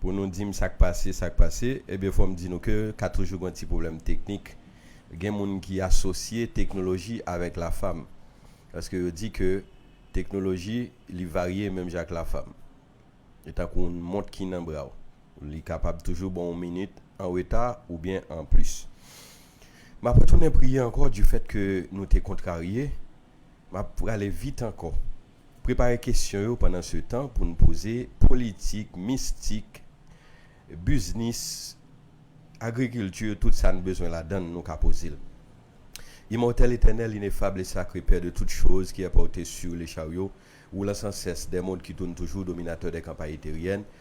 Pou nou di m sa k pase, sa k pase, ebyen fò m di nou ke ka toujou gen yon ti pwoblèm teknik. Gen moun ki asosye teknoloji avèk lafam. Paske yo di ke teknoloji li varye menm jan ak lafam. Li tankou yon mont ki nan bra w. Li kapab toujou ba w yon minit an reta oubyen an plis. M ap retounen priye ankò du fèt ke nou te kontrarye. M ap prale vit ankò. Prepare kesyon yo pandan se tan pou n poze politik, mistik, biznis, agrikilti tout sa n bezwen ladan l nou ka poze l. Imòtèl, etènèl, inefab e sakre Pè de tout choz ki è pòte su le charyo woulan san sès dè mond ki toun toujou dominatè dè kanpay eteryèn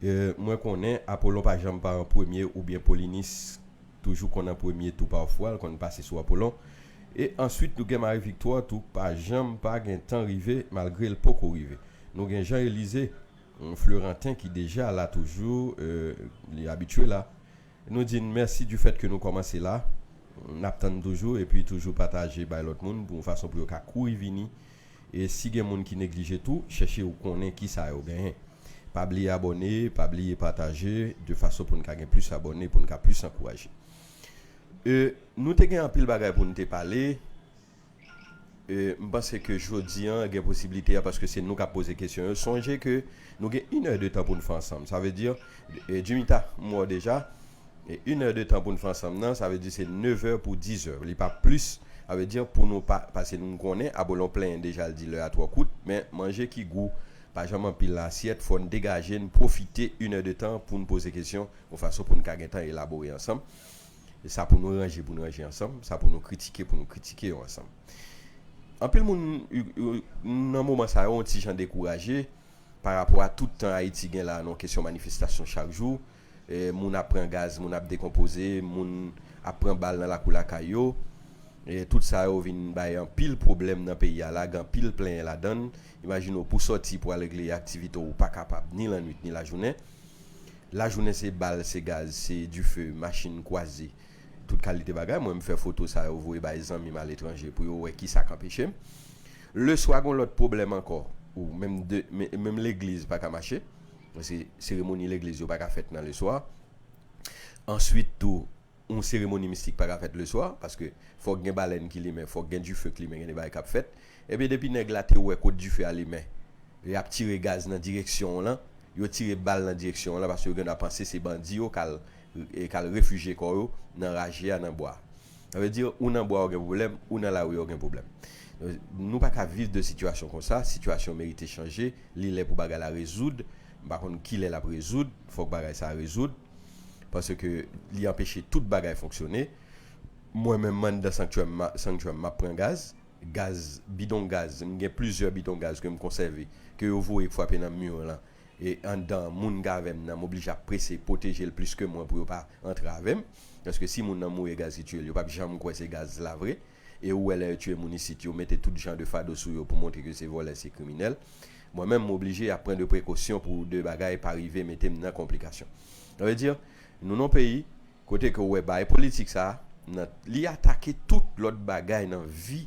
Mwen konnen Apollon pa janm pa an premye oubyen Polynice toujou konn an premye tou pafwa l konn pase sou Apollon e answit nou gen Marie Victoire tou pa janm pa gentan rive malgre l poko rive nou gen Jean Elysée Fleurantin ki deja la toujou li abitye la. Nou di n mèsi du fèt ke nou kòmanse la. N ap tann toujou epi toujou pataje bay lòt moun pou yon fason pou yo ka kouri vini. E si gen moun ki neglije tou, chèche ou konnen kisa yo genyen. Pa bliye abòne, pa bliye pataje de fason pou n ka gen plis abòne, pou n ka plis ankouraje. E nou te gen anpil bagay pou n te pale. M panse ke jodi an gen posibilite a paske se nou k ap poze kesyon yo. Sonje ke nou gen inè de tan pou n fè ansanm. Sa vle di, Jimita, m wè w deja. Inè de tan pou n fè ansanm nan, sa vle di se nevè pou dizè. Li pa plis. Sa vle di pou nou pa pase n konnen Abolon plenyen deja l di lè a twò kout. Men, manje ki gou pa janm anpil nan asyèt. Fò n degaje n pwofite inè de tan pou n poze kesyon yon fason pou n ka gen tan elabore ansanm. Sa pou nou ranje pou n ranje ansanm, sa pou nou kritike pou nou kritike yo ansanm. Anpil moun nan moman sa yo yon ti jan dekouraje pa rapò a tout tan Ayiti gen la nan kesyon manifestasyon chak jou, moun ap pran gaz, moun ap dekonpoze, moun ap pran bal nan lakou lakay yo. Tout sa yo vin bay anpil pwoblèm nan peyi a la, gen anpil plenyen ladan l. Imajine w pou w sòti pou w al regle aktivite w, ou pa kapab ni lannwit ni lajounen. Lajounen se bal, se gaz, se dife, machin kwaze, tout kalite bagay. Mwen m fè foto sa yo voye bay zanmi m aletranje pou yo wè ki sa k anpeche m. Leswa gon lòt pwoblèm ankò, ou menm de, menm legliz pa ka mache, paske seremoni legliz yo pa ka fèt nan leswa. Answit tou, Yon seremoni mistik pa ka fèt le swa, paske fòk gen balèn ki limen, fòk gen dife k limen, gen de bagay k ap fèt. Ebyen depi nèg la te wè kot dife a limen, y ap tire gaz nan direksyon w lan, yo tire bal nan direksyon w lan, paske yo gen dwa panse se bandi yo k al k al refijye kò yo nan raje a nan bwa. Sa vle di ou nan bwa ou gen pwoblèm, ou nan lari a ou gen pwoblèm. Nou pa ka viv de sitiyasyon konsa, sitiyasyon merite chanje, li lè pou bagay la rezoud, m pa konn ki lè l ap rezoud, fòk bagay sa a rezoud. paske li anpeche tout bagay fonksyone mwen menm m anndan sanktyè m sanktyè m map pran gaz gaz bidon gaz m gen plizyè bidon gaz ke m konsève ke yo voye fwape nan mi w lan e anndan moun k avè m nan m oblije ap prese pwoteje l plis ke mwen pou yo pa antre avè m paske si moun nan mouri e gaz ki tiye l yo pap janm kwè se gaz la vre. e ou wè lè yo tiye moun isit yo mete tout jan de fado sou yo pou montre ke se vòlè se kriminèl mwen menm m oblije ap pran de prekosyon pou de bagay pa rive mete m nan konplikasyon sa vle di nou nan peyi kote ke ou wè baay politik sa nan li atake tout lòt bagay nan vi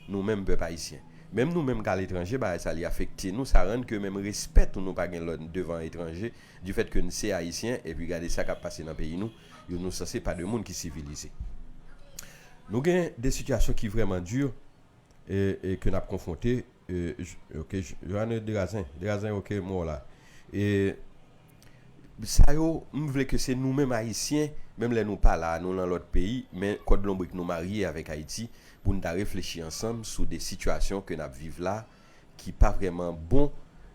nou menm pèp ayisyen menm nou menm k aletranje baay sa li afekte nou sa rann ke menm respè tou nou pa gen lè n devan etranje difèt ke n se ayisyen epi gade sa k ap pase nan peyi nou. yo nou sanse pa de moun ki sivilize. Nou gen de sitiyasyon ki vrèman di e ke n ap konfwonte ok Johanne Derazen Derazen ok m wè w la e sa yo m vle ke se nou menm Ayisyen menm lè nou pa la a nou lan lòt peyi men kòd lonbrik nou marye avèk Ayiti pou n ta reflechi ansanm sou de sitiyasyon ke n ap viv la ki pa vrèman bon,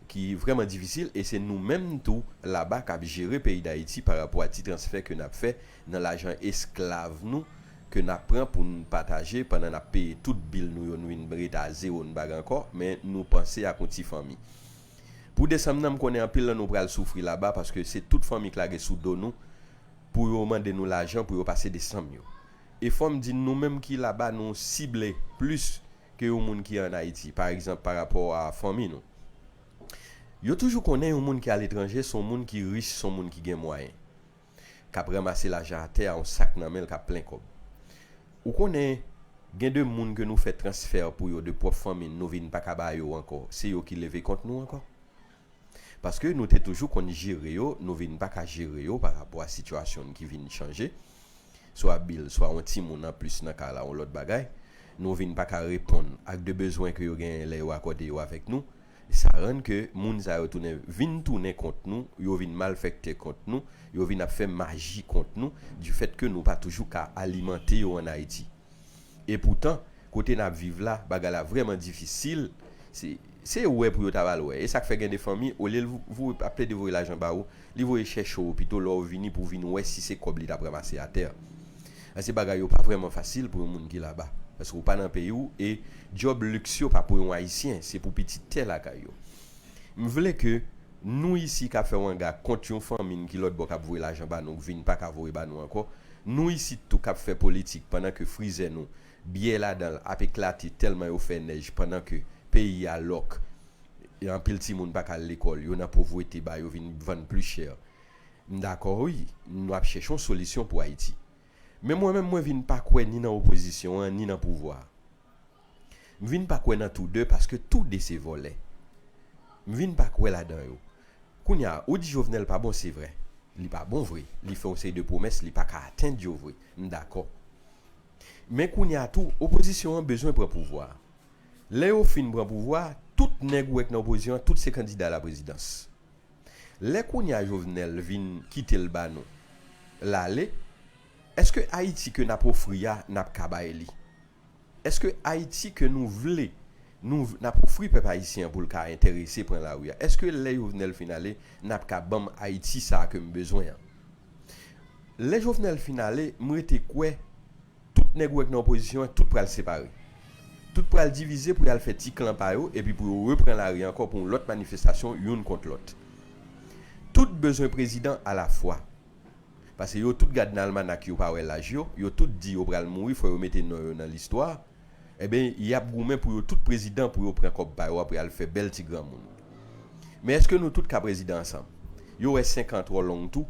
ki vrèman difisil e se nou menm tou laba k ap jere peyi Dayiti pa rapò a ti transfè ke n ap fè nan lajan esklav nou ke n ap pran pou n pataje pandan n ap peye tout bil nou yo nou vin rete a zewo n bagen ankò men nou panse ak yon ti fanmi. Pou desanm nan m konnen anpil nan nou pral soufri laba paske se tout fanmi k lage sou do nou pou yo mande nou lajan pou yo pase desanm yo. E fò m di n nou menm ki laba nou sible plis ke yon moun ki an Ayiti, pa egzanp pa rapò a fanmi nou. Yo toujou konnen yon moun ki aletranje se yon moun ki rich, se yon moun ki gen mwayen, k ap ranmase lajan atè a, yon sak nan men l k ap plen kòb. Ou konnen, gen de moun ke nou fè transfè pou yo, de pwòp fanmi n, nou vin pa ka ba yo ankò, se yo ki leve kont nou ankò. Paske nou te toujou konn jere yo, nou vin pa ka jere yo pa rapò a sitiyasyon n ki vin chanje, swa bil, swa yon timoun an plis nan kay la, yon lòt bagay. Nou vin pa ka reponn ak de bezwen ke yo genyen lè yo akòde yo avèk nou. Sa rann ke moun sa yo tounen, vin tounen kont nou, yo vin malfèktè kont nou, yo vin ap fè maji kont nou, difèt ke nou pa toujou ka alimante yo an Ayiti. E poutan, kote n ap viv la, bagay la vrèman difisil. Se se yo wè pou yo ta ba l wè. E sa k fè gen de fanmi, olye l voye ap plede voye lajan ba ou, li voye chèche ou pito lè w vini pou w vin wè si se kòb li t ap ranmase atè. Paske bagay yo pa vrèman fasil pou yon moun ki laba. Paske ou pa nan peyi w e djòb liks yo pa pou yon Ayisyen, se pou pitit tè lakay yo. M vle ke nou isi k ap fè wanga kont yon fanmi n ki lòtbò k ap voye lajan ba nou k vin pa ka voye ba nou ankò, Nou isit tou kap fè politik pandan ke frizè nou, byè ladanl ap eklate tèlman yo fè nèj pandan ke peyi a lòk e anpil timoun pa ka al lekòl yo nan povwete ba yo vin vann pli chè. M dakò wi nou ap chèche yon solisyon pou Ayiti. Men mwen menm mwen vin pa kwè ni nan opozisyon an ni nan pouvwa. M vin pa kwè nan tou 2 paske tou 2 se vòlè. M vin pa kwè ladan yo. Kounya ou di Jovenel pa bon se vre. Li pa bon vre. Li fè yon seri de pwomès li pa ka atend yo vre. M dakò. Men kounya tou opozisyon an bezwen pran pouvwa. Lè yo fin pran pouvwa tout nèg ou wè k nan opozisyon an tout se kandida la prezidans. Lè kounya Jovenel vin kite l ba nou l ale eske Ayiti ke n ap ofri a n ap ka bay li? Eske Ayiti ke nou vle, nou n ap ofri pèp ayisyen an pou l ka enterese pran lari a? Eske lè Jovenel fin ale, n ap ka ban m Ayiti sa a ke m bezwen an? Lè Jovenel fin ale, m rete kwè tout nèg ou wè k nan opozisyon an, tout pral separe. Tout pral divize pou y al fè ti klan pa yo epi pou yo repran lari ankò pou yon lòt manifestasyon youn kont lòt. Tout bezwen prezidan alafwa. Pase yo tout gad nan almanak yo pa wè laj yo, yo tout di yo pral mouri fò yo mete non yo nan listwa, enben yap goumen pou yo tout prezidan pou yo pran kòb pa yo apre al fè bèl ti granmoun. Men èske nou tout ka prezidan ansanm? Yo wè 5 an twò long tou,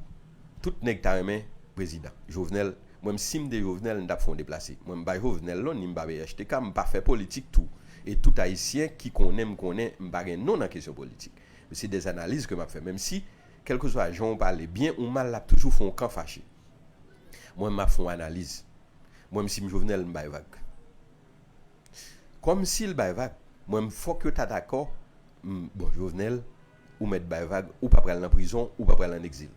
tout nèg ta renmen prezidan. Jovenel, mwen m sim te Jovenel m tap fè yon deplase. Mwen m pa Jovenel non ni m pa phtk, m pa fè politik tou e tout ayisyen ki konnen m konnen m pa gen non nan kesyon politik. Se des analyses ke map fè menmsi Kèlkeswa jan w pale, byen ou mal l ap toujou fè w kan fache. Mwen menm m ap fè yon analiz. Mwen menm si m Jovenel m bay vag. Kòm si l bay vag, mwen menm fòk yo ta dakò m bon Jovenel ou mèt bay vag ou pa pral nan prizon ou pa pral an egzil.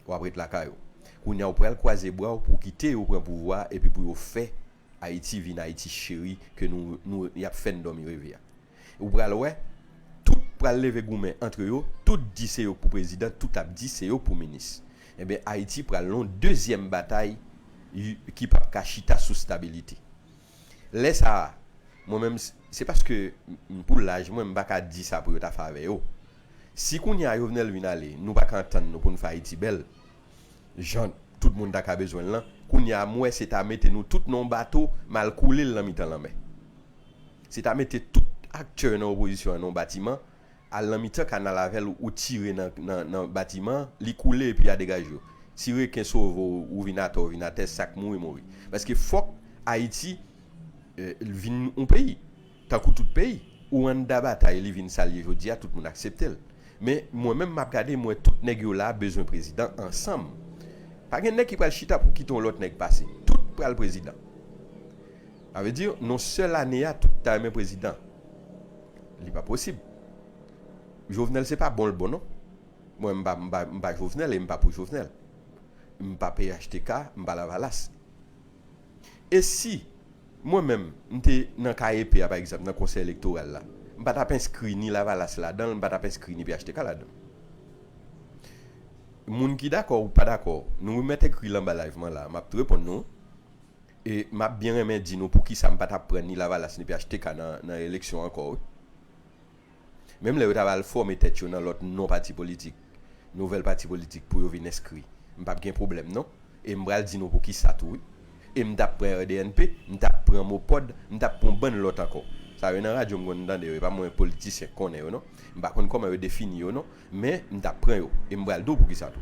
W ap ret lakay ou. Kounye a ou pral kwaze bra w pou w kite yo pran pouvwa a epi pou yo fè Ayiti vin Ayiti cheri ke nou nou y ap fè n dòmi reve a. Ou pral wè tout pral leve goumen antre yo tout di se yo pou prezidan tout ap di se yo pou minis enben ayiti pral non dezyèm batay y ki pap ka chita sou stabilite lè sa a mwen menm se paske m pou laj mwen m pa ka di sa pou yo ta fave yo si kounye a jovenel vin ale nou pa ka antann nou pou n fè ayiti bèl jan tout moun ta ka bezwen l lan kounye a m wè se ta mete nou tout nan yon bato m al koule l nan mitan lanmè. Se ta mete tout aktè nan opozisyon an nan yon batiman, al nan mitan kanal avè l ou tire nan batiman an, li koule epi a degaj yo. Si reken sove w ou vin atè w vin atè, sa k mouri mouri. Paske fòk Ayiti vin yon peyi, tankou tout peyi. Ou anndan batay li vin sa l ye jodi a, tout moun aksepte l. Men mwen menm m ap gade m wè tout nèg yo la bezwen prezidan ansanm. Pa gen nèg ki pral chita pou kite yon lòt nèg pase. Tout pral prezidan. Sa vle di non sèl ane a tout ta renmen prezidan li pa posib Jovenel se pa bonl bon non mwen m pa m pa Jovenel e m pa pou Jovenel m pa phtk m pa lavalas e si mwen menm m te nan ka epe a pa egzanp nan konsèy elektoral la m pa tap enskri ni lavalas ladanl m pa tap enskri ni phtk ladanl moun ki dakò ou pa dakò nou remèt ekri l anba live mwen la map t reponn nou. E map byen renmen di nou poukisa m pa tap pran ni lavalas ni phtk nan eleksyon ankò wi. Menm lè yo ta va al fòme tèt yo nan lòt non pati politik, nouvèl pati politik pou yo vin enskri, m pap gen pwoblèm non. E m pral di nou poukisa tou wi. E m tap pran RDNP, m tap pran Mopod, m tap pran yon bann lòt ankò. Sa yo nan radyo m konn tande yo, e pa mwen politisyen k konnen yo non. M pa konn kòman yo defini yo non, men m tap pran yo. E m pral di w poukisa tou.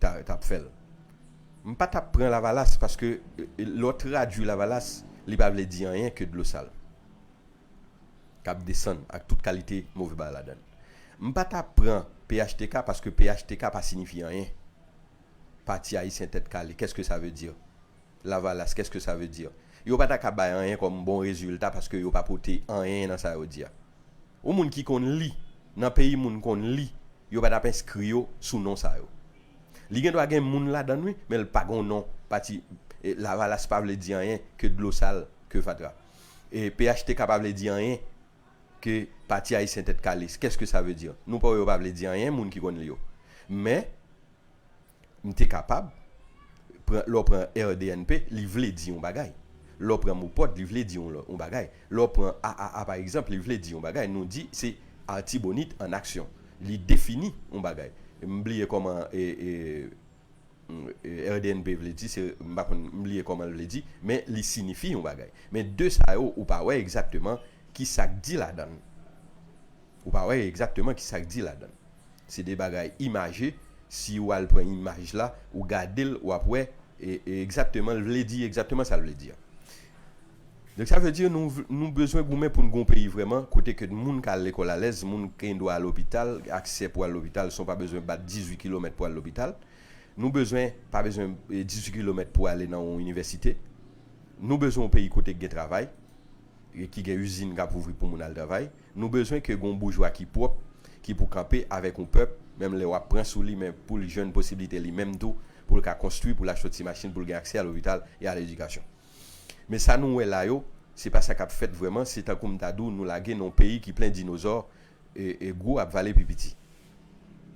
tap fèl. M pa tap pran lavalas paske lè w tradwi lavalas li pa vle di anyen ke dlo sal kap desann ak tout kalite move bagay ladann. M pa ta pran phtk paske phtk pa sinifye anyen. Pati Ayisyen Tèt Kale, kès ke sa ve dir? Lavalas, qu'est-ce que ça veut dire? Yo pa ta ka bay anyen kòm bon rezilta paske yo pa pote anyen nan sa yo di a. Yon moun ki konn li, nan peyi moun konn li, yo pa t ap enskri yo sou non sa yo. Li gen dwa gen moun ladan l wi, men l pa gen yon non pati. Lavalas pa vle di anyen ke dlo sal, ke fatra. Phtk pa vle di anyen ke Pati Ayisyen Tèt Kale. Qu'est-ce que ça veut dire? Nou pa wè yo pa vle di anyen, moun ki konn li yo. Men, M te kapab, pran, lè w pran rdnp, li vle di yon bagay. Lè w pran MOPOD, li vle di yon lò, yon bagay. Lè w pran AAA pa egzanp, li vle di yon bagay. Nou di se Artibonite en action. Li defini yon bagay. M bliye kòman e, e, e rdnp vle di, se, m pa konn, m bliye kòman l vle di, men li sinifi yon bagay. Men 2 sa yo, ou pa wè egzakteman ki sa k di ladan l. Ou pa wè egzakteman ki sa k di ladan l. Se de bagay imaje, si ou al pran imaj la, ou gade l, w ap wè egzakteman l vle di egzakteman sa l vle di an. Donk sa vle di nou nou bezwen goumen pou n gen yon peyi vrèman kote ke moun ka al lekòl alèz, moun gen dwa al lopital, aksè pou al lopital san w pa bezwen bat 18 kilomèt pou al lopital. Nou bezwen pa bezwen 18 kilomèt pou ale nan yon inivèsite. Nou bezwen yon peyi kote ki gen travay, ki gen izin k ap ouvri pou moun al travay. Nou bezwen ke gon boujwa ki pwòp ki pou kanpe avèk yon pèp menm lè wap pran sou li men poul jwenn posibilite li menm tou poul ka konstwi poul achte yon ti machin poul gen aksè a lopital e a ledikasyon men sa nou wè la yo se pa sa kap fèt vrèman se tankou m ta di w nou lage nan yon peyi ki plen dinozò e gwo ap vale pi piti.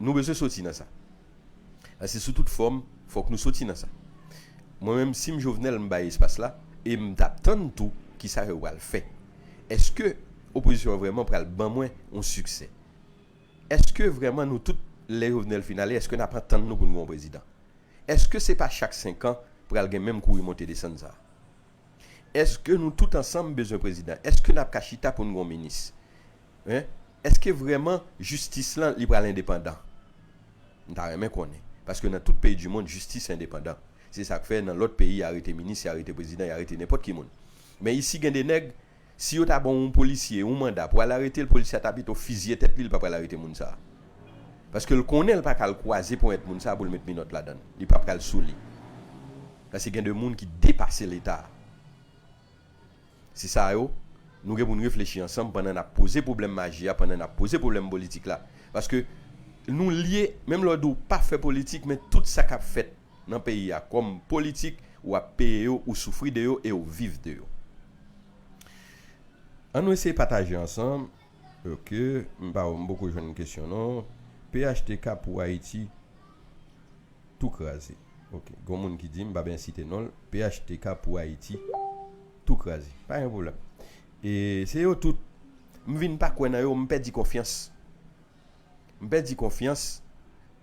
Nou bezwen soti nan sa. A se sou tout fòm fòk nou soti nan sa. Mwen menm sim Jovenel m bay espas la e m tap tann tou kisa yo pral fè. Eske opozisyon an vrèman pral ban mwen yon siksè? Eske vrèman nou tout lè Jovenel fin ale eske nap antann nou pou n gen yon prezidan? Eske se pa chak 5 an pral gen menm kouri monte desann sa? Eske nou tout ansanm bezwen prezidan? Eske nap ka chita poun gon minis? Hein? Eske vreman jistis lan li pral endepandan? M ta renmen konnen. Paske nan tout peyi du mond jistis endepandan. Se sak fè nan lot peyi ya rete minis, ya rete prezidan, ya rete nenpot ki moun. Men isi gen de neg. Si yo ta ban yon polisye yon manda pou al aretel polisye a ta pito fizye tèt li li pa pral arete moun sa paskel konnen li paka al kwaze ponyèt moun sa poul met minòt ladann li pa pral souli paske gen de moun ki depase leta se sa yo nou gen poun reflechi ansanm pandan nap poze pwoblèm maji a pandan nap poze pwoblèm politik la paske nou lye menm lè w di w pa fè politik men tout sa kap fèt. nan peyi a kòm politik ou ap peye yo ou soufri de yo e ou viv de yo an nou eseye pataje ansanm ok m pa m poko jwenn kesyon non phtk pou ayiti tou kraze ok gon moun ki di m pa byen site non l phtk pou ayiti tou kraze pa gen pwoblèm e se yo tout m vin pa kwè nan yo m pèdi konfyans. M pèdi konfyans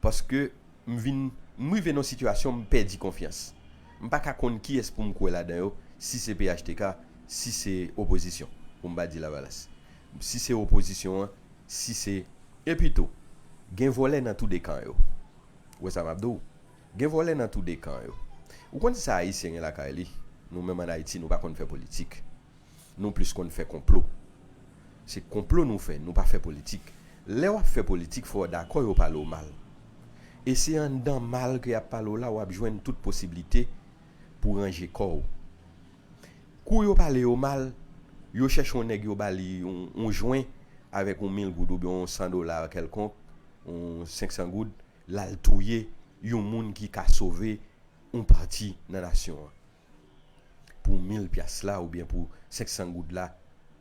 paske m vin m rive nan yon sitiyasyon m pèdi konfyans. M pa ka konn kiyès pou m kwè ladan yo, si se phtk, si se opozisyon, pou m pa di Lavalas. Si se opozisyon an, si se. Epi tou, gen vòlè nan tou de kan yo. Ou wè sa m ap di w? Gen vòlè nan tou de kan yo. Ou konn sa Ayisyen gen lakay li? Nou menm an Ayiti, nou pa konn fè politik. Nou plis konn fè konplo. Se konplo nou fè, nou pa fè politik. Lè wap fè politik fò w dakò yo pale w mal. E se anndan mal ke yap pale w la wap jwenn tout posiblite pou ranje kò w. Kou yo pale yo mal, yo chèche yon nèg yo ba li yon jwen avèk yon mil goud oubyen yon san dola kèlkonk, yon senksan goud, lal touye yon moun ki ka sove yon pati nan nasyon an. pou mil pyas la oubyen pou 500 goud la,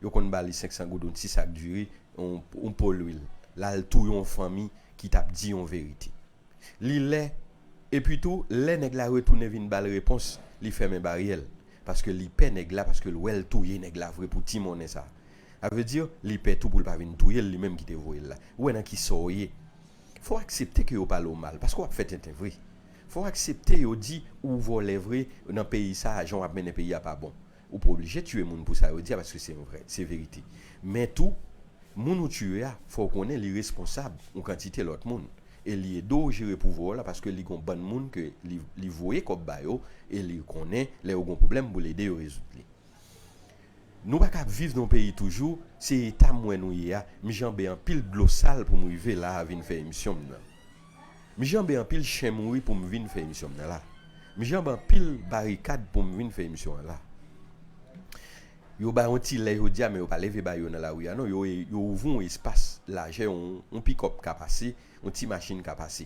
yo konn ba li 500 goud yon ti sak diri, yon po lwil, l al touye yon fanmi ki t ap di yon verite. Li lè, epi tou, lè nèg la retounen vin ba l repons, li fèmen baryè l, paske li pè nèg la, paske l wè l touye nèg la vre pou ti monnen sa a. Sa vle di, li pè tou pou l pa vin touye l, li menm ki te voye l la. Ou wè nan ki sò w ye? Fò w aksepte ke yo pale w mal, paske w ap fè tenten vre. Fò w aksepte yo di ou vòlè vre nan peyi sa a, jan w ap mennen peyi a pa bon. Ou pa oblije tiye moun pou sa yo di a paske se yon vrè, se verite. Men tou, moun ou tiye a, fò w konnen li responsab yon kantite lòt moun e li ede w jere pouvwa w la paske li gen yon bann moun ke li voye kòb ba yo e li konnen lè yo gen yon pwoblèm pou l ede yo rezoud li. Nou pa ka ap viv nan peyi toujou se eta m wè nou ye a m janbe anpil dlo sal pou m rive la vin fè emisyon m nan m janbe anpil chen mouri pou m vin fè emisyon m nan la m janbe anpil barikad pou m vin fè emisyon an la yo bay yon ti lè jodi a men yo pa leve bay yo nan lari a non yo ouvri yon espas lajè yon pikòp ka pase yon ti machin ka pase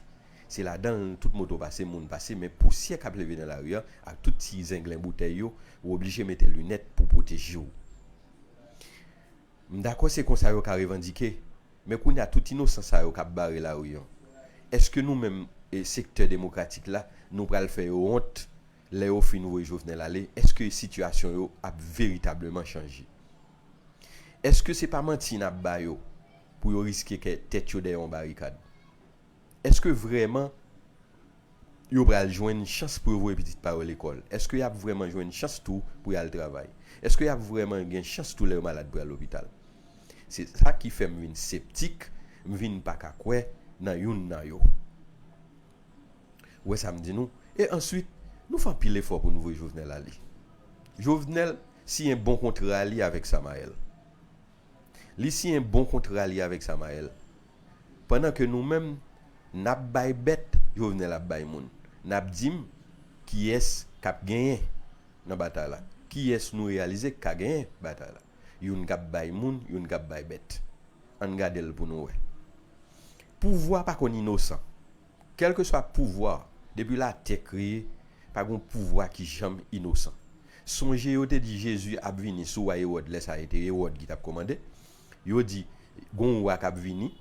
Se ladan l tout moto pase, moun pase, men pousyè k ap leve nan lari a ak tout ti zenglen boutèy yo, ou oblije mete linèt pou pwoteje w. M dakò se konsa yo ka revandike, men kounye a tout inosan sa yo k ap bare lari an, èske nou menm sektè demokratik la nou pral fè yo wont lè yo fin voye Jovenel ale? Èske sitiyasyon yo ap veritableman chanje? Èske se pa manti n ap ba yo pou yo riske kè tèt yo dèyè yon barikad? Èske vrèman yo pral jwenn chans pou yo voye pitit pa yo lekòl? Èske y ap vrèman jwenn chans tou pou y al travay? Èske y ap vrèman gen chans tou lè yo malad pou y al lopital? Se sa ki fè m vin septik, m vin pa ka kwè nan youn nan yo. Ou wè sa m di nou? E answit, nou fè anpil efò pou nou voye Jovenel ale. Jovenel siyen bon kontra li avèk Samael. Li siyen bon kontra li avèk Samael. pandan ke nou menm nap bay bèt Jovenel ap bay moun nap dim kiyès kap genyen nan batay la kiyès nou reyalize ki ka genyen batay la youn kap bay moun youn kap bay bèt ann gadel pou nou wè pouvwa pa konn inosan kèlkeswa pouvwa depi latè kreye pa gon pouvwa ki janm inosan sonje yo te di Jezi ap vini sou wa Ewòd lè sa e te Ewòd ki tap komande. Yo di, Gon yon wa k ap vini.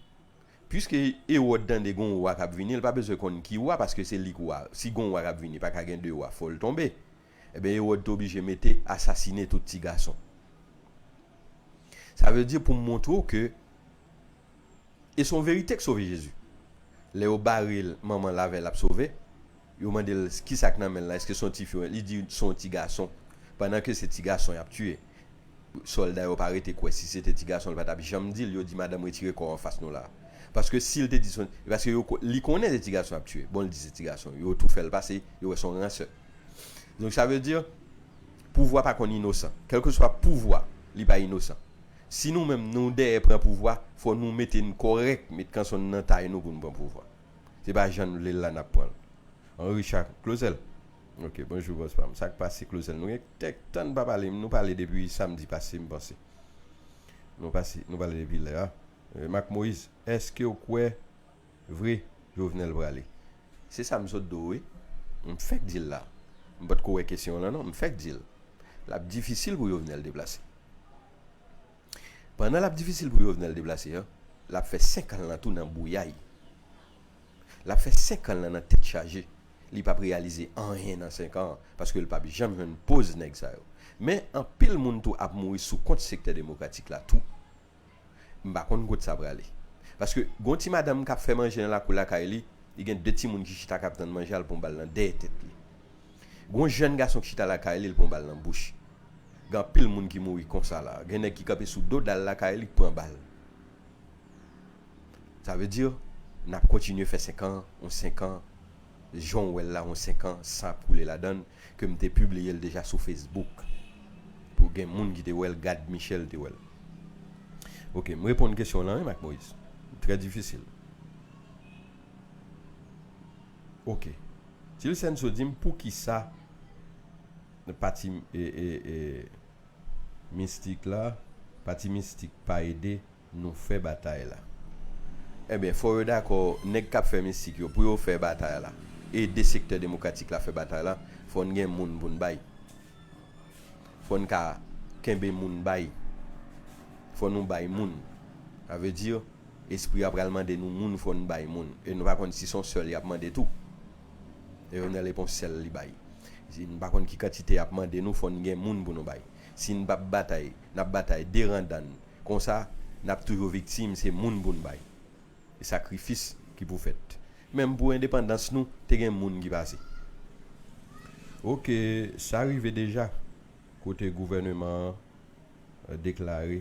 Piske Ewòd tande gon yon wa k ap vini, l pa bezwen konn ki wa, paske se li k wa. Si gon yon wa k ap vini, pa ka gen de wa, fò l tonbe. Enben, Ewòd te oblije mete asasine tout tigason. Sa vle di, pou m montre w ke, e se yon verite k sove Jezi. Lè yo bare l, manman l avè l ap sove. Yo mande l, Kisa k nan men l la? Èske se yon tifi ou byen? Li di, Se yon tigason. Pandan ke se tigason y ap tiye, sòlda yo pa rete kwè. Si se te tigason, l pa t ap janm di l. Yo di, Madanm, retire kò w anfas nou la a. Paske si l te di se yon. Paske yo ko, li konnen se tigason y ap tiye. Bon, l di se tigason. Yo tou fè l pase. Yo wè se yon ransè. Donk sa vle di, pouvwa pa konn inosan. Kèlkeswa pouvwa, li pa inosan. Si nou menm nou dèyè pran pouvwa, fò nou mete n kòrèk, met kanson n nan tay nou pou n pran pouvwa. Se pa jan nou vle l la nap pran l. Henri Cha Clauzel ok bonjou bòs pam sak pase Clauzel nou gen kèk tan nou pa pale m nou pale depi samdi pase m panse nou pase nou pale depi lè a Marc Moïse èskew kwè vre Jovenel prale se sa m sot di w wi m fèk di l la m potko wè kesyon w lan non m fèk di l lap difisil pou Jovenel deplase. Pandan lap difisil pou Jovenel deplase an, lap fè 5 an lan tou nan bouyay. Lap fè 5 an lan nan tèt chaje. Li pap reyalize anyen nan 5 an, paske l pap janm jwenn poz nèg sa yo. Men anpil moun tou ap mouri sou kont sektè demokratik la tou. M pa konn kot sa prale. Paske gon ti madanm kap fè manje nan lakou lakay li, li gen 2 timoun ki chita kap tann manje al pran bal nan dèyè tèt li. Gen yon jèn gason ki chita lakay li, li pran yon bal nan bouch. Gen anpil moun ki mouri konsa la. Gen nèg ki kanpe sou do dal lakay li, ki pran bal. Sa vle di, n ap kontinye fè senkan, yon senkan, jan w wè l la, yon senkan, san ap koule ladan l, ke m te pibliye l deja sou Facebook, pou gen moun ki te wè l, Gad Michel te wè l. Ok, m reponn kesyon w lan wi Mak Moyiz. Trè difisil. Ok. Tilsenso di m poukisa pati mistik la, pati mistik pa ede nou fè batay la. Ebyen fò yo dakò nèg kap fè mistik yo pou yo fè batay la, ede sektè demokratik la fè batay la, fò n gen moun pou n bay. Fò n ka kenbe moun bay. Fò nou bay moun. Sa vle di. Espri a pral mande nou moun fò n bay moun e nou pa konn si son sèl yap mande tou Leonel e pon sèl li bay si n pa konn ki kantite yap mande nou fò n gen moun pou nou bay si n pap batay nap batay deran dan n konsa nap toujou viktim se moun pou n bay e sakrifis ki pou fèt menm pou endepandans nou te gen moun ki pase ok sa rive deja kote gouvèneman an deklare.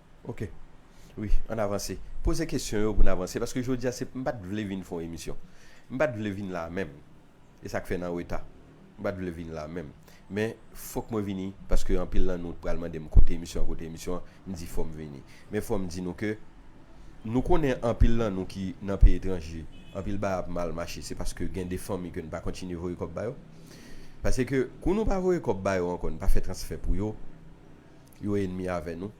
Ok wi ann avanse. Poze kesyon yo pou n avanse paske jodi a se m pa t vle vin fè yon emisyon. M pa t vle vin la a menm. E sa k fè n an reta. M pa t vle vin la a menm. Men fòk mwen vini paske anpil nan nou pral mande m kote emisyon an kote emisyon an. M di fò m vini. Men fò m di nou ke nou konnen anpil nan nou ki nan peyi etranje anpil bagay ap mal mache se paske gen de fanmi ke n pa kontinye voye kòb ba yo. Pase ke kou nou pa voye kòb ba yo ankò n pa fè transfè pou yo Yo enmi avè nou,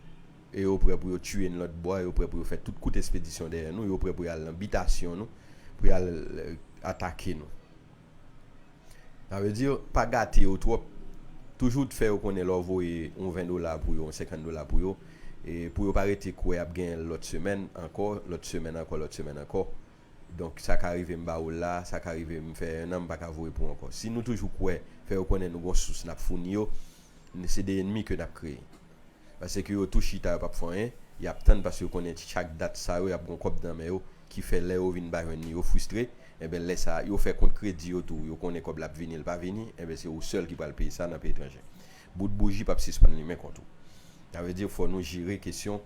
e yo prè pou yo tiye n lòt bò a, yo prè pou yo fè tout kout espedisyon dèyè nou, yo prè pou y al nan bitasyon nou, pou y al atake nou. Sa vle di, pa gate yo twòp, toujou fè yo konnen lè w voye yon ven dola pou yo, yon senkant dola pou yo, pou yo pa rete kwè y ap genyen l lòt semèn ankò, lòt semèn ankò, lòt semèn ankò. Donk, sa ka rive m ba ou l la, sa ka rive m fè ennan m pa ka voye pou ou ankò. Si nou toujou kwè, fè yo konnen nou gen yon sous n ap founi yo, Se 2 enmi ke nap kreye. Pase ke yo tou chita yo pap fè anyen, yap tann pase yo konnen chak dat sa yo yap gon kòb nan men yo ki fè lè yo vin pa jwenn li yo fristre, enben lè sa yo fè kont kredi yo tou yo konnen kòb la ap vini li pa vini, enben se ou sèl ki pral peye sa nan peyi etranje. Bout bouji pap sispann limen kont ou. Sa vle di fò nou jere kesyon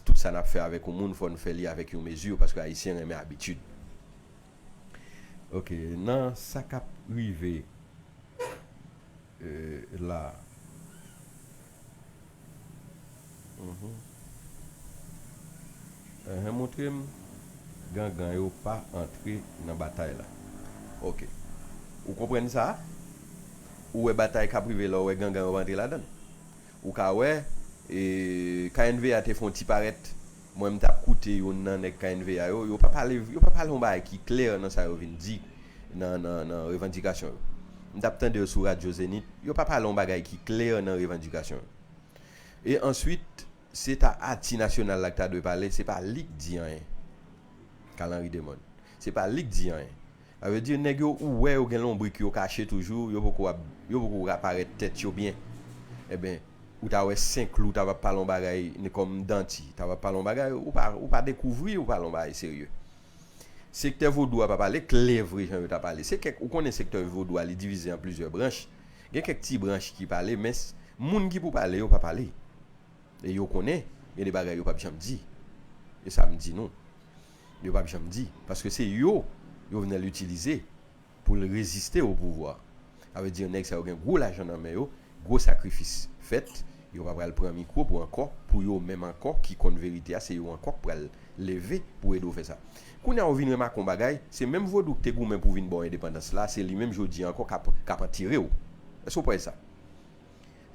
tout sa nap fè avèk yon moun fò nou fè li avèk yon mezi paske ayisyen renmen abitid. Ok nan sa kap rive. la. Enhen moutre m gangan yo pa antre nan batay la ok ou konprann sa ou wè batay kap rive la ou wè gangan yo pa antre ladann ou ka wè knva te fon ti parèt Mwen m tap koute youn nan nèg knva yo, yo pa pale yo pa pale yon bagay ki klè nan sa yo vin di nan nan nan revandikasyon yo. M tap tande yo sou radyo Zenith, yo pa pale yon bagay ki klè nan revandikasyon yo. E answit, se ta ati nasyonal la k ta dwe pale, se pa li k di anyen. Carl Henry Demon. Se pa li k di anyen. Sa vle di nèg yo ou wè yo gen lonbrik yo kache toujou, yo poko ap, yo poko ka parèt tèt yo byen. Enben, ou ta wè Senklou ta va pale yon bagay ni kòm Danti ta va pale yon bagay, ou pa, ou pa dekouvri yo pale yon bagay serye. Sektè Vodou a pa pale klè vre jan yo ta pale. Se kèk, ou konnen sektè Vodou a li divize an plizyè branch, gen kèk ti branch ki pale men moun ki pou pale yo pa pale. E yo konnen gen de bagay yo pap janm di. E sa m di nou. Yo pap janm di, paske se yo Jovenel itilize pou l reziste o pouvwa. Sa vle di nèg sa yo gen gwo lajan nan men yo, gwo sakrifis fèt, yo pa pral pran mikwo pou ankò pou yo menm ankò ki konn verite a se yo ankò k pral leve pou ede w fè sa. Kounye a ou vin remake yon bagay, se menm vodou k te goumen pou vin ba w endepandans la, se li menm jodi a ankò k ap k ap antire w. Èske w p wè sa?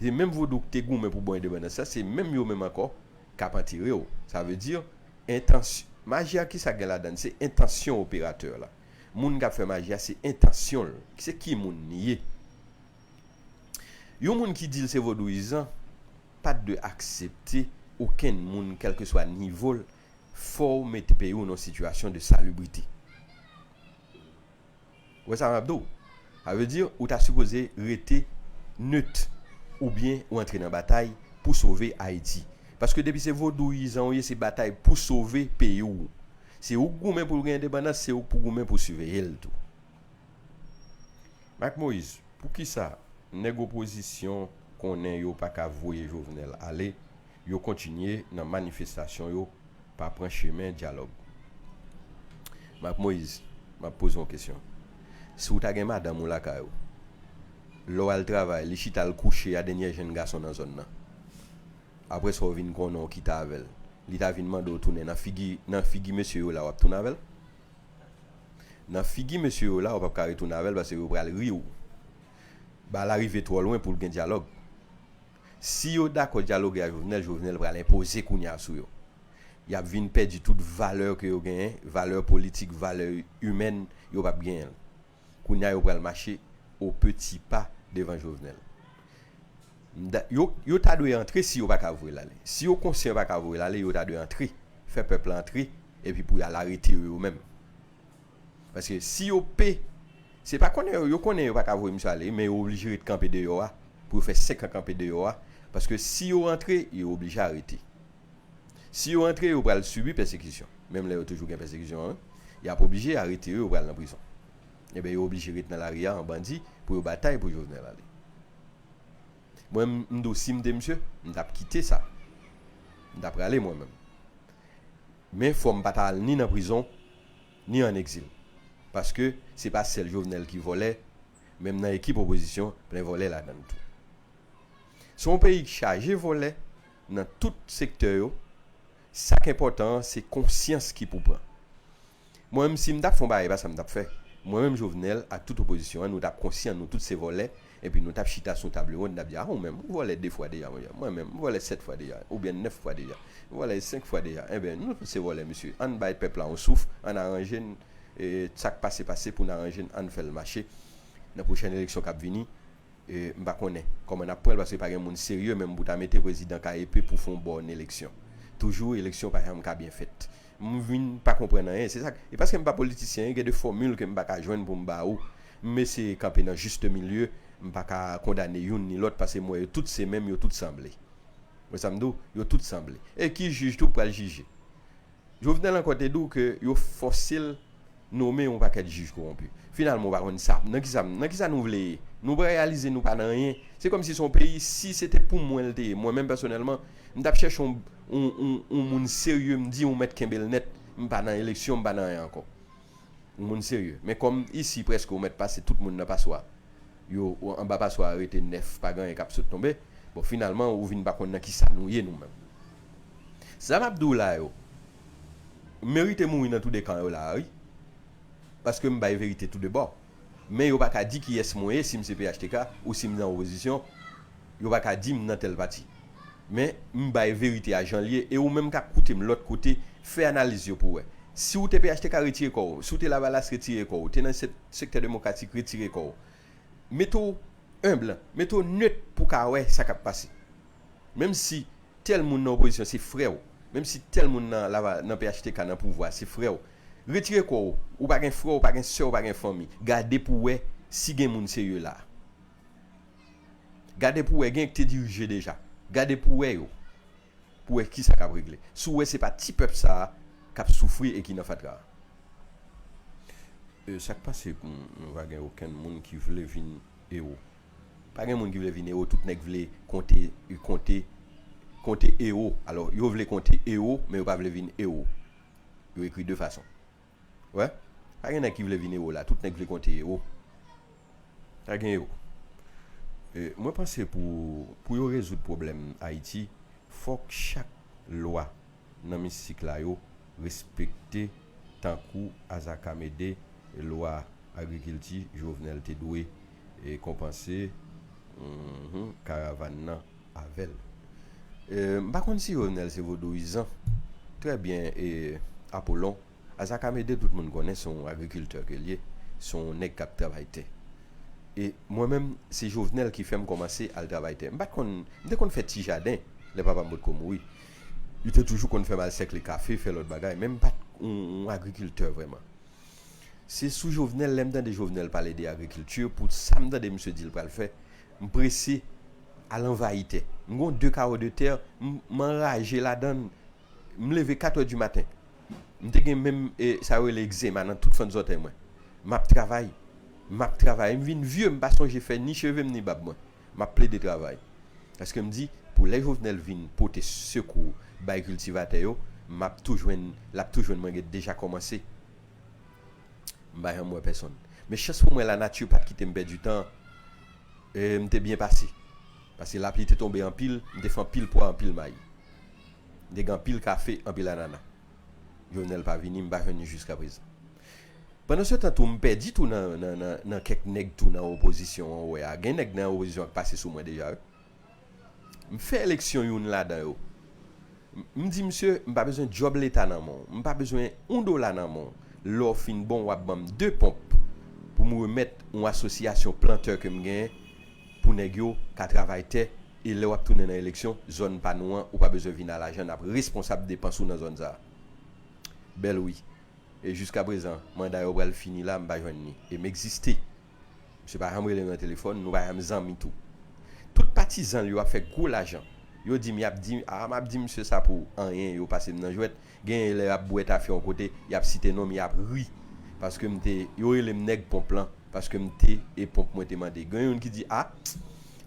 Se menm vodou k te goumen pou ba w endepandans la, se menm yo menm ankò k ap antire w. Sa vle di. Entans. Maji a kisa gen ladann? Se entansyon operatè la. Moun kap fè maji a se entansyon l. Se ki moun li ye. Yon moun ki di l se vodouyizan pa dwe aksepte okenn moun kèlkeswa nivo l fò w mete peyi w nan yon sitiyasyon de salubrite. Ou wè sa map di'w? Sa vle di ou ta sipoze rete neut oubyen ou antre nan batay pou sove Ayiti. Paske depi se vodouyizan ou ye se batay pou sove peyi'w. Se ou k goumen pou'l gen endepandans, se ou k pou goumen pou siveye'l tou. Mac Moïse, poukisa nèg opozisyon konnen yo paka voye Jovenel ale, Yo kontinye nan manifestasyon yo pa pran chemen dyalòg. Marc Moïse, m ap poze yon kesyon. Si w ta gen madanm ou lakay ou, lè w al travay, li chita l kouche a denyè jenn gason nan zòn nan. Aprè sa w vin konnen w kite avè l, li ta vin mande w tounen nan figi nan figi mesye yo la w ap tounen avè l? Nan figi mesye yo la w p ap ka retounen avè l paske yo pral ri w. Bal a rive twò lwen pou l gen dyalòg. Si yo dakò dyaloge a Jovenel, Jovenel pral enpoze kounye a sou yo. Y ap vin pèdi tout valè ke yo genyen, valè politik, valè imèn, yo p ap genyen l. Kounye a yo pral mache o peti pa devan Jovenel. M da, yo, yo ta dwe antre si yo pa ka voye l ale. Si yo konsyan yo pa ka voye l ale, yo ta dwe antre, fè pèp la antre, epi pou y al arete yo yo menm. Paske si yo p Se pa konnen yo yo konnen yo pa ka voye misye ale wi men yo oblije ret kanpe deyò a pou yo fè 5 an kanpe deyò a paske si yo rantre yo oblije arete si yo rantre yo pral sibi pèsekisyon menm lè yo toujou gen pèsekisyon an y ap oblije arete yo yo pral nan prizon enben yo oblije ret nan lari a an bandi pou yo batay pou Jovenel ale mwen m m di w si m te misye m t ap kite sa m ta prale mwen menm. Men fòm pa ta al ni nan prizon ni an egzil paske se pa sèl Jovenel ki vòlè menm nan ekip opozisyon plen vòlè ladann tou. Se yon peyi k chaje vòlè nan tout sektè yo sak enpòtan an se konsyans ki pou pran. Mwen menm si m tap fè yon bagay e pa sa m tap fè mwen menm Jovenel ak tout opozisyon an nou tap konsyan nou tout se vòlè Epi nou tap chita sou table ronde nap di ah ou menm ou vòlè 2 fwa deja monchè mwen menm m vòlè 7 fwa deja oubyen 9 fwa deja m vòlè 5 fwa deja enben nou tout se vòlè mesye ann bay pèp la yon souf ann aranje n sak pase pase pou n aranje n ann fèl mache nan pwochèn eleksyon kap vini m pa konnen kòman nap pranl paske pa gen moun serye menm pou ta mete prezidan ka epe pou fon bòn eleksyon toujou eleksyon pa janm ka byen fèt. M vin pa konprann anyen. Se sak, e paske m pa politisyen, gen de fòmil ke m pa ka jwenn pou m ba ou. M eseye kanpe nan juste milieu, m pa ka kondane youn ni lòt paske m wè yo tout se menm, yo tout sanble. Ou wè sa m di w? Yo tout sanble. E ki jij tou k pral jije? Jovenel ankò te di w ke yo fòse l nome yon pakèt jij kowonpi. Finalman ou pa konn sa, nan kisa m, nan kisa nou vle ye? Nou pa reyalize nou pa nan anyen? Se kòmsi se yon peyi, si se te pou mwen l te ye, mwen menm pèsonèlman, m t ap chèche yon. Yon moun serye m di ou mèt kenbe l nèt, m pa nan eleksyon, m pa nan anyen ankò. Yon moun serye. Men kòm isi prèske ou mèt pase tout moun nan paswa, yo anba paswa a rete nèf, pa gen anyen k ap sot tonbe, bon finalman ou vin pa konn nan kisa nou ye nou menm. Sa m ap di w la yo merite mouri nan tou de kan yo la a wi, paske m bay verite tou de bò. Men yo pa ka di kiyès mwen ye, si m se phtk ou si m nan opozisyon, yo pa ka di m nan tèl pati. Men, m bay verite a jan l ye, e ou menm k ap koute m lòt kote, fè analiz yo pou w wè. Si ou te phtk retire kò w, si w te lavalas retire kò w, te nan sektè demokratik retire kò w. Mete w enb, mete w nöt pou w ka wè sa k ap pase. Menm si tèl moun nan opozisyon se frè w, menm si tèl moun nan phtk nan pouvwa se frè w, retire kò w, ou pa gen frè, ou pa gen sè, ou pa gen fanmi. Gade pou w wè si gen moun serye la a. Gade pou wè gen k te dirije deja. Gade pou wè yo. Pou wè kisa kap regle. Si w wè se pa ti pèp sa kap soufri e ki nan fatra. E sak pase nou pa gen okenn moun ki vle vin ewo. Pa gen moun ki vle vin ewo, tout nèg vle konte konte konte ewo. Alò yo vle konte ewo men yo pa vle vin ewo. Yo ekri de fason. Wè pa gen nèg ki vle vin ewo la tout nèg vle konte ewo pa gen ewo mwen panse pou pou yo rezoud pwoblèm ayiti fòk chak lwa nan mistik la yo respekte tankou azakamede lwa agrikilti jovenel te dwe konpanse karavàn nan. avèl m pa konn si jovenel se vodouyizan trè byen e apolon azakamede tout moun konnen se yon agrikiltè ke l ye se yon nèg kap travay tè e mwen menm se jovenel ki fèm kòmanse al travay tè m pat konn m te konn fè ti jaden lè papa m potko mouri li te toujou konn fèm al sèkle kafe fè lòt bagay men m pat yon agrikiltè vrèman se sou jovenel lèm tande jovenel pale de agrikilti pou sa m tande misye di l pral fè M prese al anvayi tè. M gon de kawo de tè m m anraje ladan l. M leve katè di maten. M te gen menm e sa yo rele ekzema nan tout fant zòtèy mwen. M ap travay, m ap travay. M vin vye m pa sonje fè ni cheve m ni bab mwen. M ap plede travay. Paske m di pou lè Jovenel vin pote sekou bay kiltivatè yo, m ap tou jwenn, l ap tou jwenn mwen gen deja kòmanse. M pa janm wè pèsonn. Men chans pou mwen la nati pat kite m pèdi tan e m te byen pase. Pase lapli te tonbe anpil, m te fè anpil pwa, anpil mayi. M te gen anpil kafe, anpil anana. Jovenel pa vini, m pa jwenn li jiskaprezan. Pandansetan tou m pèdi tou nan kèk nèg tou nan opozisyon an ou wè a. Gen nèg nan opozisyon an k pase sou mwen deja wi. M fè eleksyon youn ladan yo. M di misye, m pa bezwen djòb leta nan men w. M pa bezwen oun dola nan men w. Lè w fin bon, w ap ban m de ponp pou m remèt oun asosyasyon plantè ke m genyen pou nèg yo ka travay tè e lè w ap tounen nan eleksyon, zòn pa nou an, ou pa bezwen vin a lajan, n ap responsab depans ou nan zòn sa a. Bèl wi. E jiskaprezan, manda yo pral fini la, m pa jwenn ni. E m egziste. Misye pa janm rele nou nan telefòn, nou pa janm zanmi tou. Tout patizan l yo ap fè gwo lajan. Yo di m y ap di, aa m ap di misye sa pou anyen, yo pase m nan jwèt. Genyen lè y ap bwè tafe yon kote, y ap site non m, y ap ri paske m te, yo rele m nèg ponp lan paske m te e ponp mwen te mande. Gen youn ki di, a,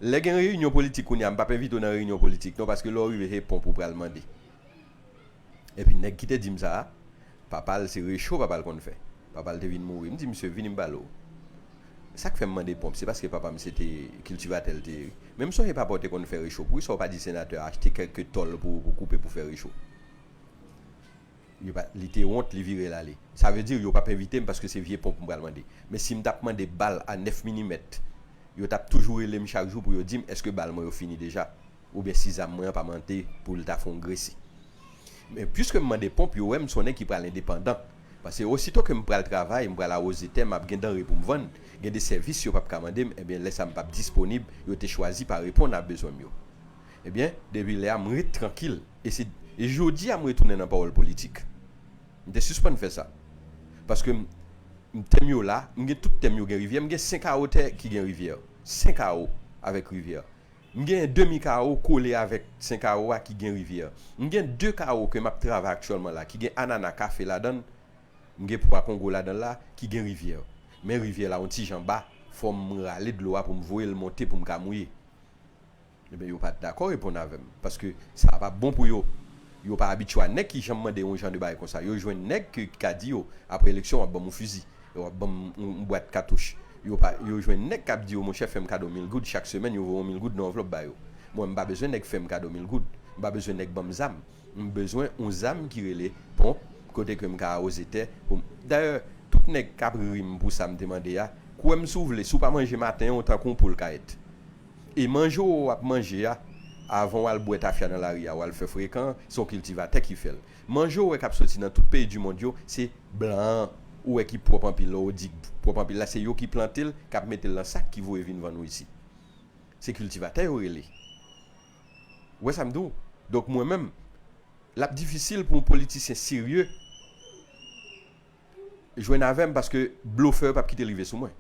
lè gen reyinyon politik kounye a, m p ap envite w nan reyinyon politik non paske lè w rive se ponp ou pral mande. Epi nèg ki te di m sa a, papa l se recho papa l konn fè. Papa l te vin mouri. M di misye, vini m pale w. Sa k fè m mande ponp, se paske papa m se te kiltivatè l te ye. Men m sonje papa w te konn fè recho. Poukisa w pa di senatè a achte kèlke tòl pou ou koupe pou fè recho? Yo pa, li te wont, li vire l ale. Sa vle di yo pap envite m paske se vye ponp m pral mande. Men si m t ap mande bal a 9 milimèt, yo t ap toujou rele m chak jou pou yo di m èske bal mwen yo fini deja. Oubyen si zam mwen an pa mante pou l ta fon gresi. Men piske m mande ponp yo wè m sonnen ki pral endepandan. Pase osito ke m pral travay, m pral awoze tè m ap gen danre pou m vann, gen de sèvis yo p ap ka mande m ebyen lè sa m p ap disponib yo te chwazi pa reponn a bezwen m yo. Ebyen depi lè a m ret trankil e se jodi a m retounen nan pawòl politik. M te sispann fè sa. Paske m tè m yo la, m gen tout tè m yo gen rivyè, m gen 5 awo tè ki gen rivyè. 5 awo avèk rivyè. M gen demi kawo kole avèk sen kawo a ki gen rivyè. M gen de kawo ke m ap travay aktyèlman la ki gen anana, kafe ladan l. M gen pwa kongo ladan l la ki gen rivyè. Men rivyè la on ti jan ba, fò m rale dlo a pou m voye l monte pou m ka mouye. Enben yo pa t dakò reponn avè m, paske sa a pa bon pou yo. Yo pa abitye a nèg ki janm mande yon jan de bagay konsa. Yo jwenn nèg ki ka di yo, apre eleksyon wap banm yon fizi, wap banm yon bwat katouch. Yo pa, yo jwenn nèg kap di yo monchè fèm kado mil goud chak semèn yo voye yon mil goud nan anvlòp ba yo. Mwen mpa bezwen nèg fèm kado mil goud. Mpa bezwen nèg banm zam. Mbezwen yon zam ki rele ponp kote kem ka awoze tè poum. Dayè, tout nèg kap rim pou sam te mande a, kwèm si w vle, si w pa manje maten an ou tankou yon poul kayèt. E manje w ap manje a, avan w al bwè tafya nan lari a, w al fè frekan an, se yon kiltivatè ki fè l. Manje w wè k ap soti nan tout peyi dimond yo, se blan an ou wè ki pwòp anpil la, ou di k pwòp anpil la, se yo ki plante l, k ap mete l nan sak, ki voye vin vann ou isi. Se kiltivatè yo rele. Ou wè sa m di w? Donk mwen menm, l ap difisil pou yon politisyen serye. jwenn avèm paske blofè yo pap kite rive sou mwen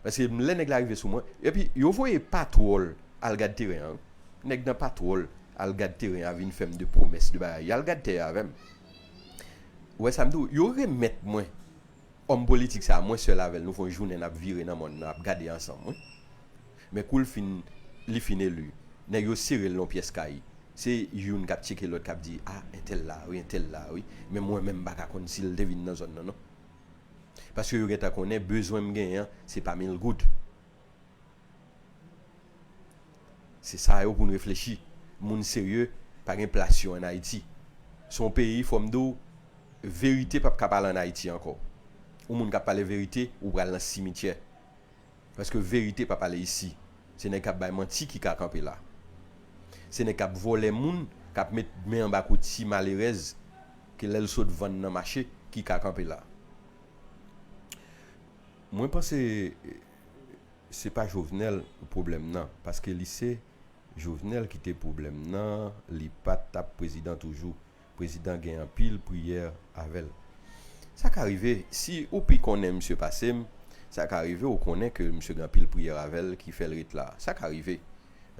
paske lè nèg la rive sou mwen epi yo voye patwòl al gad teren an wi nèg nan patwòl al gad teren an vin fèm de pwomès de bagay al gad tè a avèm ou wè sam di ou yo remèt mwen òm politik sa mwen sèl avèl nou fon jounen nap vire nan mòn nan ap gade ansanm wi. Men kou l fin li fin eli, nèg yo sere l nan yon pyès kay. Se youn k ap tcheke lòt k ap di, A, entèl la a wi, entèl la a wi. Men mwen menm m pa ka konn si l te vin nan zòn nan non. Paske yo gentan konnen bezwen m genyen an se pa mil goud. Se sa yo pou n reflechi. Moun serye pa gen plas yo ann Ayiti. Se yon peyi fò m di w verite pap ka pale ann Ayiti ankò. Yon moun k ap pale verite ou pral nan simityè. Paske verite pa pale isi. Se nèg kap bay manti ki ka kanpe la. Se nèg kap vòlè moun, kap met men anba kou ti malerèz ke lèl sot vann nan mache ki ka kanpe la. Mwen panse se pa Jovenel pwoblèm nan. Paske li se Jovenel ki te pwoblèm nan li pa tap prezidan toujou. Prezidan gen anpil priyè avèl. Sa ka rive, si ou pi konnen misye pasem, sa ka rive ou konnen ke misye gen anpil priyè avèl ki fèl ret la. Sa ka rive.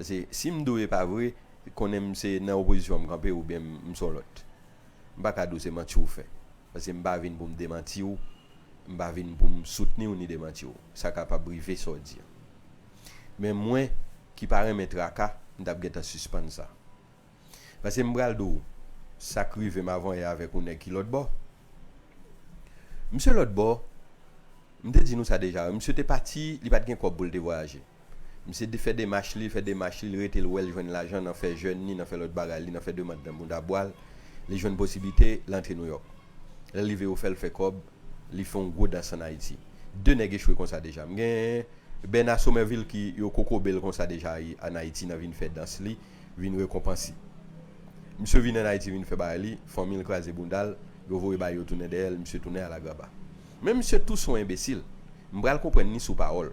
Pase sim diw e pa vre, konnenm se nan opozisyon m kanpe ou byen m son lòt. M pa ka diw se manti ou fè. Pase m pa vin pou m demantiw, m pa vin pou m soutniw ni demantiw. Sa kapab rive sa w di an. Men mwen ki pa renmen traka, m tap gentan sispann sa. Paske m pral di w sa k rive m avanyè avèk yon nèg ki lòtbò. Misye lòtbò, m te di nou sa deja wi, misye te pati, li pa t gen kòb pou l te vwayaje. Misye te fè demach li, fè demach li, l rete l wè l jwenn lajan nan fè jèn li, nan fè lòt bagay li, nan fè demand nan bounda bwa l, li jwenn posiblite, l antre Nouyòk. Lè l rive yo fè l fè kòb, li fè yon gwo dans ann Ayiti. De nèg echwe konsa deja. M gen Bèna Somèvil ki yo kokobe l konsa deja ann Ayiti nan vin fè dans li. vin rekonpanse. Misye vin an Ayiti vin fè bagay li, fanmi l kraze bounda l, yo voye bagay yo tounen dèyè l, misye tounen alagraba. Men misye tou son enbesil. M pral konprann li sou pawòl.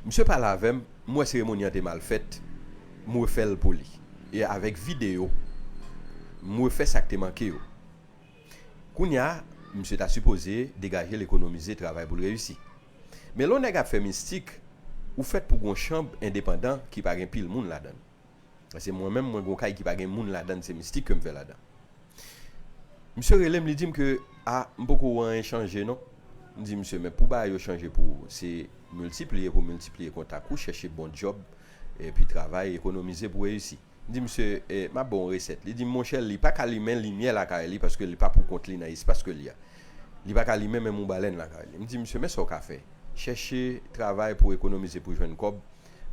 Misye pale avè m, m wè seremoni an te mal fèt, m refè l pou li. E avèk videyo, m refè sa k te manke yo. Kounya, misye ta sipoze degaje l ekonomize travay pou l reyisi. Men lè w nèg ap fè mistik, ou fèt pou gon chanb endepandan ki pa gen pil moun ladann. Paske mwen menm mwen gon kay ki pa gen moun ladann se mistik ke m fè ladan. Misye rele m li di m ke a m poko wè anyen chanje non. M di misye men pou bagay yo chanje pou ou se miltipliye pou miltipliye kontak ou, chèche bon dyòb epi travay, ekonomize pou reyisi. M di misye m ap ba w yon resèt. Li di m monchè li pa ka limen limyè lakay li paske li pa poukont li nan espas ke li a. Li pa ka limen menm yon balèn lakay li. M di misye men sa w ka fè, chèche travay pou w ekonomize pou w jwenn kòb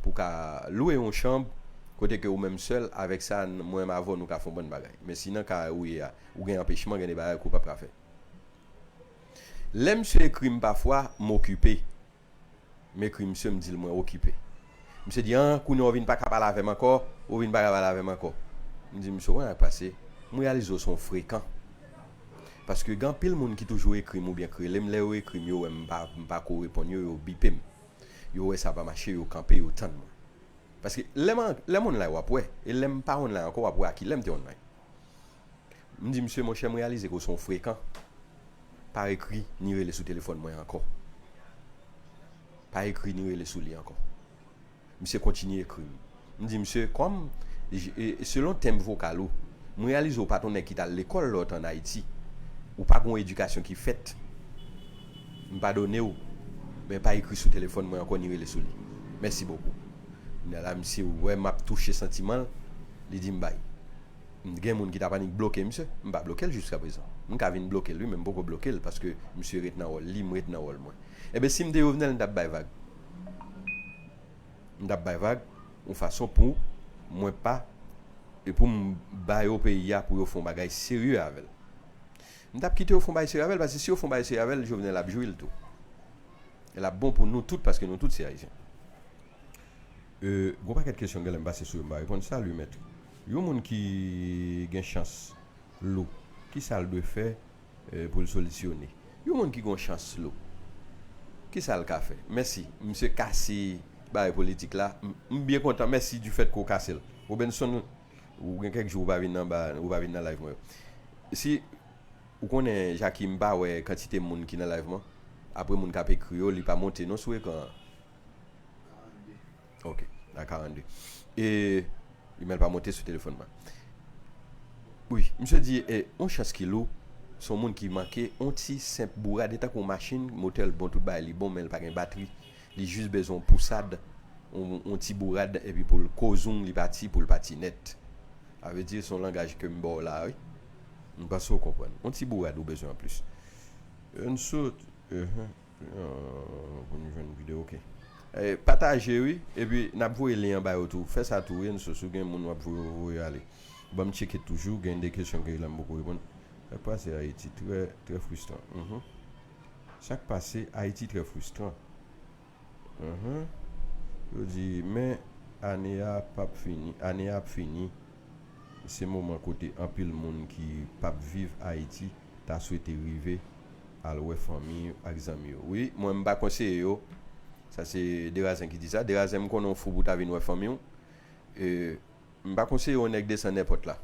pou w ka lwe yon chanb kote ke ou menm sèl, avèk sa mwen menm avè w nou ka fè yon bann bagay. Men si nan ka ou ye a ou gen anpechman gen de bagay ke w p ap ka fè. Lè misye ekri m pafwa m okipe M ekri misye m di l mwen okipe. Misye di an kounye an ou vin pa ka pale avè m ankò, ou vin pa ka pale avè m ankò. M di misye w konn sa k pase, m reyalize w se yon frekan. Paske gen anpil moun ki toujou ekri m oubyen k rele m lè yo ekri m yo wè m m pa ko reponn yo, yo bipe m. Yo wè sa pa mache yo kanpe yo tann mwen. Paske lè m lè m online w ap wè e lè m pa online ankò w ap wè a kilè m te online. M di misye, monchè m reyalize ke w se yon frekan, pa ekri ni rele sou telefòn mwen ankò. Pa ekri ni rele sou li ankò. Misye kontinye ekri m. M di misye, kòm, selon tenb vokal ou, m reyalize w pa t yon nèg ki t al lekòl lè w te ann Ayiti. Ou pa gen yon edikasyon ki fèt. M padone w, men pa ekri sou telefòn mwen ankò ni rele sou li. Mèsi bokou. Kounya la misye wè map touche santiman l, li di m bay. M gen moun ki tap annik bloke misye, m pa bloke l jiska prezan. M ka vin bloke l wi men m poko bloke l paske misye ret nan wòl li, m ret nan wòl mwen. Enben si m te Jovenel m tap bay vag. M tap bay vag yon fason pou mwen pa e pou m ba yo peyi a pou yo fè yon bagay serye avè l. M tap kite yo fon bay sere avèl paske si yo fon bay sere avèl jovenel ap jwil tou e lap bon pou nou tout paske nou tout se ayisyen e gon pakèt kesyon genlè m pase sou yo m pa reponn salut maître yon moun ki gen chans lou kisal dwe fè poul solisyone yon moun ki gon chans lou kisal ka fè mèsi misye kase bagay politik la m byen kontan mèsi difèt ke w kasel Robenson. Ou gen kèk jou ou pa vin anba ou pa vin nan live mwen yo. Si ou konnen Jackie m pa wè kantite moun ki nan live mwen apre moun kap ekri yo li pa monte non sou ekran an. 42. Ok a 42 e men l pa monte sou telefòn mwen. Wi misye di e yon chans ki lou son moun ki manke yon ti senp bourad e tankou yon machin motè l bon tout bagay li bon men l pa gen batri Li jis bezwen yon pousad, yon ti bourad epi pou l kozoung li pati pou l pati nèt. Sa vle di se yon langaj ke m ba w la a wi. M panse ou konprann. Yon ti bourad ou bezwen anplis. N sot ehe pou n jwenn video ok. Pataje wi epi n ap voye lyen an ba yo tou. Fè sa tou wi N sot si w gen moun w ap voye yo voye ale. Ban m tcheke toujou gen de kesyon ke la m poko reponn. Sa k pase Ayiti trè trè fristran. Sak pase Haiti très frustrant Humm yo di men ane a pap fini ane a ap fini se moman kote anpil moun ki pap viv Haiti ta swete rive al wè fanmi yo ak zanmi yo wi mwen m pa konseye yo sa se Derazen ki di sa Derazen m konnen w fou pou ta vin wè fanmi w e M pa konseye yon nèg desann èpòt la.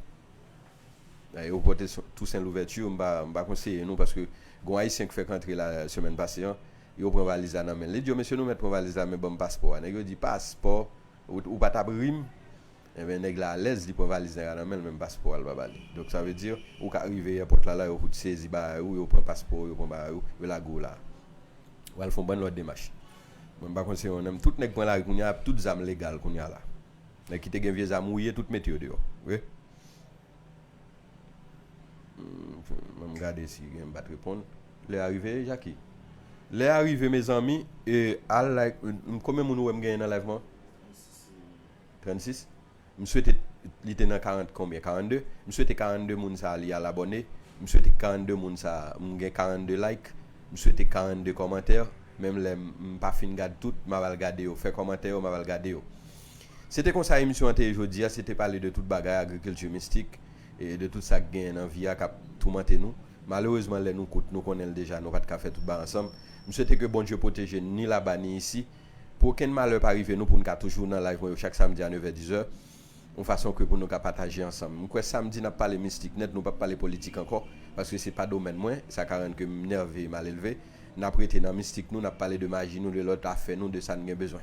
Ayewopò Tousen Louvèti, m pa konseye nou paske gon Ayisyen k fèk antre la semèn pase an, yo pran valiz la nan men l. Li di yo, mesye nou mèt pran valiz la men ban m paspò a. Nèg yo di, paspò? Ou pa t ap ri m? Enben nèg la alèz, li pran valiz nèg la nan men l men paspò a l pa ba li. Donk sa vle di ou ka rive èpòt la la yo fout sezi bagay ou, yo pran paspò ou, yo pran bagay ou, yo lage w la. Ou al fè yon bann lòt demach. Mwen m pa konseye yon nèm. Tout nèg pran lari kounye a ap tout zam legal kounye a la. Nèg ki te gen vye zam wouye tout mete yo deyò wi. Banm gade si gen bat reponn. Lè a rive Jacki. Lè a rive mezanmi e al like konbyen moun ou wèm genyen nan live mwen? 36 M swete li te nan 40 konbyen 42 M swete 42 moun sa li al abòne M swete 42 moun sa m gen 42 like M swete 42 kòmantè menm lè m pa fin gad tout map al gade yo fè kòmantè yo map al gade yo Se te konsa emisyon an te ye jodi a, se te pale de tout bagay agriculture mistik e de tout sa k genyen nan vi a k ap toumante nou. Malerezman lè nou kout, nou konnen l deja, nou pa t ka fè tout ba ansanm. M swete ke Bondye pwoteje n ni laba ni isi, pou okenn malè pa rive nou pou n ka toujou nan live mwen yo chak samdi a nevè dizè, yon fason ke pou nou ka pataje ansanm. M kwè samdi n ap pale mistik nèt, nou p ap pale politik ankò, paske se pa domèn mwen, sa ka rann ke m nève e malelve. N ap rete nan mistik nou, n ap pale de maji nou, de lòt afè nou, de sa n gen bezwen.